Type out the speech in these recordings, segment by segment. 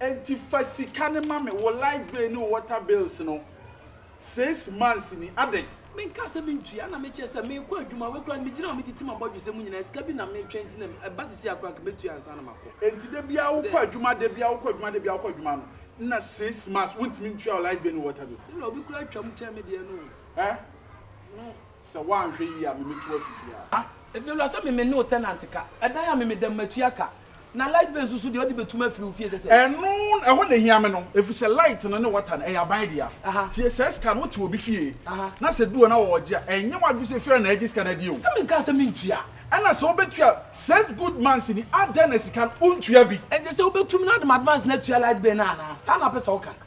Enti fa sika no ma me, wo light bill ne wo water bills no, six months ni, adɛn? Menkaa sɛ mentua na mekyerɛ sɛ merekɔ adwuma, wei koraa no megyina hɔ a metete m'abɔdwesɛ mu nyinaa, sika bi na metwɛn nti na ɛba seesei a koraa anka mɛtua ansa na makɔ. Enti da biara wokɔ adwuma, da biara wokɔ adwuma, da biara wokɔ adwuma no na six months wontumi ntua wo light bill ne wo water bill? Me wura, obi koraa twam kyɛn me deɛ no o. Ɛ? Sɛ woanhwɛ yie a meme to afifiri a. Ah, Efiewura sɛ meme ne wo tenant ka. Ɛdan a meme da mu matua ka. Na light bill nso so deɛ wode bɛtum afiri wo fie sɛ sɛ. Ɛno, ɛhɔ na ɛhia me no. Ɛfiri sɛ light no ne water no, ɛyɛ aban dea. Tie, saa sika no, wote obi fie na sɛ ɛdu hɔ na ɔregye a, ɛnyɛ w'adwene sɛ Efiewura na agye sika no adie o. Sɛ menkaa sɛ mentua a. Ɛna sɛ wobɛtua a, such good months ni, adɛn na sika no, wontua bi? Ɛnkyɛ sɛ wobɛtum na wode m'advance no atua light bill no anaa? Saa na wopɛ sɛ woka no?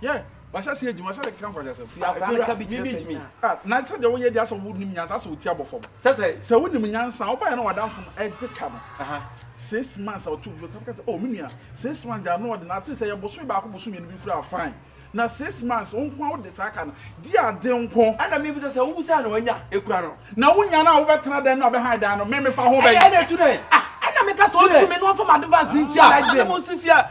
Yeah, wahyɛ ase adwuma sɛ keka nkwaseasɛm. Fi akwadaa no ka bi kyerɛ panyin a. Ah, na sɛ deɛ woyɛ deɛ asɛ wo nim nyansa asɛ wo ti abɔ fam. Sɛ sɛ. Sɛ wo nim nyansa a, wo baeɛ na w'adamfo no ɛde ka no. Aha. Six months a ɔte ofie, ɔka sɛ oh me nua, six months deɛ ano ɔden, atleast ɛyɛ bosome baako bosome mmienu bi koraa a fine. Na six months wo nko ara wode saa ka no, di ade nko. Ɛna me bisa sɛ wo bisa na wanya ekura no. Na wo nya no a wo bɛ tena dɛn na ɔbɛ han dan no, me me fa ho bɛyi. Ɛyɛ ɛna etu dɛn? Ah, ɛna me ka sɛ ɔntu me na ɔnfa m'advance no ntua light bill. Ah, ɛna mo nso fia,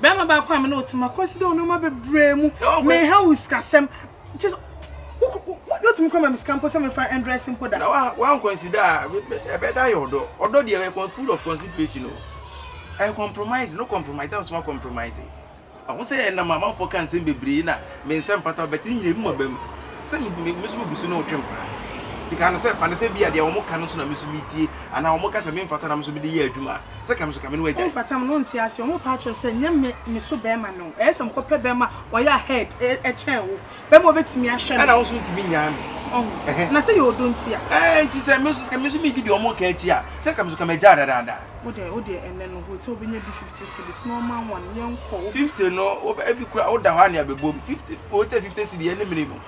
Bɛrima baako a me ne wo te ma kɔsi dɛ nneɛma bebree mu. Menha wo sikasɛm. Kyɛ sɛ wotumi kora ma me sika mpo sɛ mefa ndrɛse mpo da. Na woankɔnsida a, ɛbɛda ayɛ ɔdɔ. Ɔdɔ deɛ ɛyɛ full of consideration o. Ɛyɛ compromise no compromise a wosɛ woakɔmpromise. Mahu sɛ ɛnam amanfoɔ ka nsɛm bebree na me nsa mfata wo but ne nyinaa emu aba mu sɛ me nso megu so ne wo twe mpena. Nti ka no sɛ fa no sɛ bi a deɛ wɔka no nso na me nso metie anaa wɔka sɛ memfata na me nso mede yɛ adwuma a. sɛ ka me so ka me ne wo agyae. Ɔmfata me na ɔnte aseɛ. Ɔmo pa akyerɛ sɛ nyɛ me me so bɛɛma no. Ɛyɛ sɛ mekɔpɛ bɛɛma a ɔyɛ ahead kyɛn wo. Bɛɛma a ɔbɛtumi ahwɛ me. Ɛna wo nso wontumi nnyaa me. Ɔho. Ɛhɛn. Na sɛ yɛ ɔdɔ nti a. Ɛɛ nti sɛ me nso sɛ me nso medi deɛ ɔmo ka akyi a sɛ ka me so ka me agyae dadaada. Wo deɛ wo deɛ ɛnɛ no hotel bɛnya bi fifty cedis na ɔma one yɛnkɔ. Fifty no wo bɛ efi kura wo da hɔ a nea bɛbom fifty hotel fifty cedi ɛne mene mu.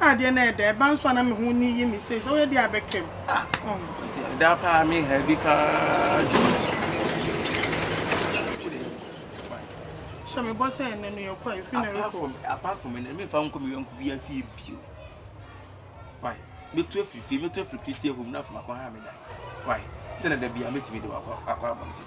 Ah deɛ na ɛda ɛba nso a na me ho ni yi me sei sɛ woyɛ deɛ abɛkam. Ah nti ɛda paa me ha bi paa dwo. Hyɛ me bɔ sɛ ɛnɛ no yɛ kɔ efi na rekɔ. Apart from ɛnɛ me nfa nkɔ me yɔnko bi afie bio. Why? Me tu afiri fie me tu afiri pisi ehum na afɔ akɔ ha me da. Why? Sɛ na da bi a me ti me de wakɔ akɔ abɔnten.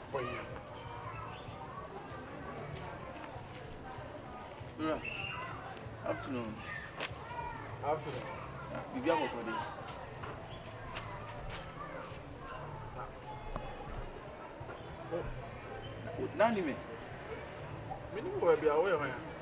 ɔyɛ. Dora, afternoon. Afternoon. Ah, biribi akɔkɔ de. Nani me? Mene wɔ baabi a woyɛ hɔ ya.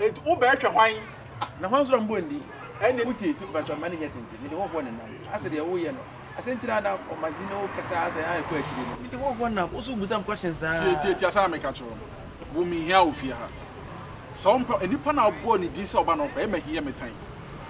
Enti wobɛhwɛ hwan? Na hwan nso na mobɔ ndin? Ɛnne no tie fi mpatsɔ mma ne nyɛ tsentsen mede hɔhoɔ ne nam ase deɛ woyɛ no ase nti na na ɔma dzi ne wo kasa ase a ɛkɔ akyire no mede hɔhoɔ nam wo nso wobisa me questions saa. Tie tie tie asɛm a meka kyerɛ wo no wo menhia wo fie ha sɛ wompɛ nipa no a wobɔɔ ne din sɛ ɔba no ɔkɔ ɛyɛ mahia me tan.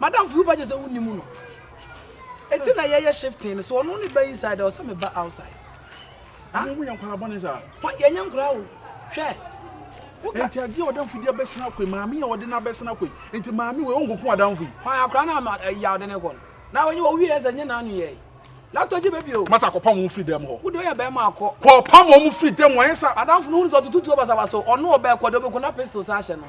Madam fi wo ba kyesɛ wo nim no. Eti na yɛ yɛ shifting no so ɔno ne ba inside ɔsɛ me ba outside. Ha? Mo mu yɛ nkwadaa bɔne saa. Hɔ yɛ nyɛ nkwadaa o. Hwɛ. Woka. Enti adeɛ a ɔdamfo di abɛsena kɔ yi maame a ɔde no abɛsena kɔ yi enti maame wei ɔnko ko adamfo yi. Hwan akwadaa na ama ɛyi a ɔde ne kɔ no. Na wɔnyɛ wɔn wieɛ sɛ nyɛ n'ano yɛ yi. Latɔ gye baby o. Masa kɔpam wɔn firi dɛm hɔ. Wode ɔyɛ bɛrima akɔ. Kɔpam wɔn firi dɛm wɔn yɛ sa. Adamfo no hu no sɛ ɔtoto tuo basabasa o ɔno ɔbɛkɔ deɛ ɔbɛkɔ na pistol san ahyɛ no ho.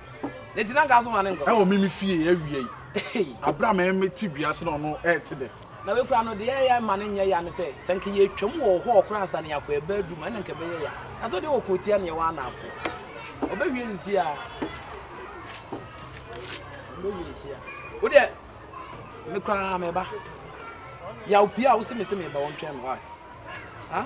ɛwɔ me me fie awia yi abere a mɛmɛ te dua ase na ɔno ɛɛte dɛ. na wei kura no deɛ ɛyɛ ma ne nyɛ ya ne sɛ sɛ nka yɛ twam wɔ hɔ ɔkora ansa ne akɔ ɛbɛ adu mu ɛna nka bɛyɛ ya na sɛ deɛ ɔkɔ tia neɛ wɔ anafo ɔbɛwie nsi a ɔbɛwie nsi a wo deɛ me koraa mɛba yaw pii a wo se me se meba wɔntwɛn me wae ha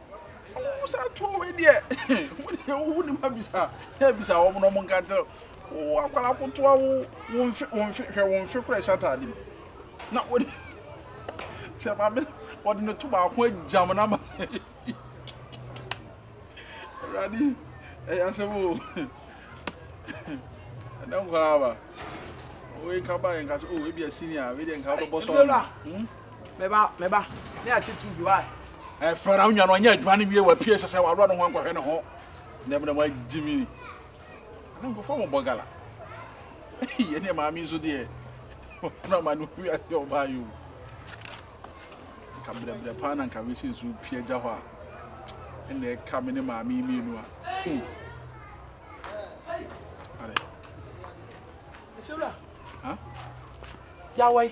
ɔmo sa tuo wei deɛ wo deɛ wo ne ma bisa na bisa wɔn na wɔn nka kyerɛ wo akwara kotoa wo wo nfe wo nfe hwɛ wo nfe kora ɛhyɛ ataade mu na wɔde sɛ maame wɔde ne to baako agyam na ma awurade ɛyɛ asɛm o ɛnɛ nkwaraa ba wei nka ba yɛ nka so o ebi asi ni a wei deɛ nka wobɛbɔ sɔɔ no. Me ba, me ba, ne akyi tu bi wa. Eh, Frara, onua no ɔnyɛ adwuma no wie wapie sɛ sɛ waworɔ ne ho ankɔhwɛ ne ho. Na mu na wagye mi. Ana nkɔfɔ mo bɔ gala. Yɛ ne maame nso deɛ. Na ma no wi ase ɔbaa yo. Nka brɛbrɛ paa na nka wesi nso pie agya hɔ a. Ɛna ɛka me ne maame mmienu a. Hmm. Are. Efewura. Ha? Yawai.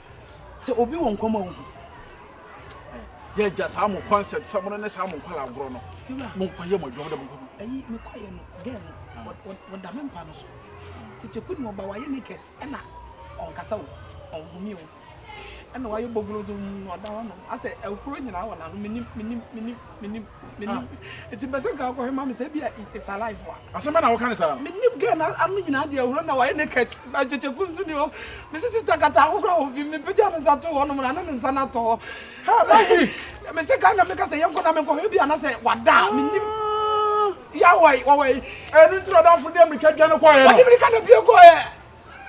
Sɛ obi wɔ nkwa mu a wohu. Yɛagya saa mo concert sɛ mo ne saa mo nkwalaa agorɔ no. Mo nkwa yɛ mo adwuma mo da mo nkwa mu. Ayi me kɔ yɛ no girl no ah. wɔda me mpa no so. Tete kuni ɔba wayɛ naked ɛna ɔnkasa o ɔnhome o ɛna wayɛ bɔgoro nso ɔda hɔ nom asɛ ɛhoro nyinaa wɔ n'ano menim menim menim. Menim, menim. Ah. Nti mpɛ sɛ nka wokɔhwɛ ma me sɛ ebia it is alive a. Asɛm bɛ na woka ne saa? Menim girl na ano nyinaa deɛ ahuro na wayɛ naked. Akyekyeku nso ni hɔ. Mese sister kata ho kora wɔ fi mepagya ne nsa to hɔ nom na ne ne nsa no atɔ hɔ. Ha, Maggie! Mese ka na meka sɛ yɛnkɔ na menkɔhwɛ bi ana sɛ wada a menim. Ah. Yawai, wawai. Ɛno nti na ɔdamfo deɛ mmirika dwane kɔeɛ no. Ɔde mmirika na bie kɔeɛ.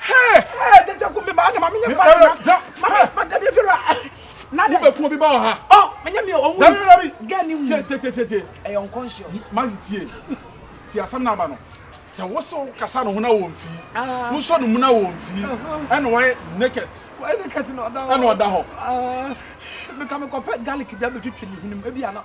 Hey! Hey, jaja kumbi ma na mami nye fa na. Mami ma da bi fira. Na de. Be ko bi ba ha. Oh, me nya mi o wu. Da bi da bi. Ga ni wu. Tie tie tie tie. E yon conscious. Ma ji tie. Ti asam na ba no. Sɛ wo so kasa no ho na wɔ mfi. Wo sɔ no mu na wɔ mfi. Ɛna wɔyɛ naked. Wɔyɛ naked na ɔda hɔ. Ɛna ɔda hɔ. Me ka me kɔpɛ garlic bi abɛtwitwi ne hwenem. Ebi ana.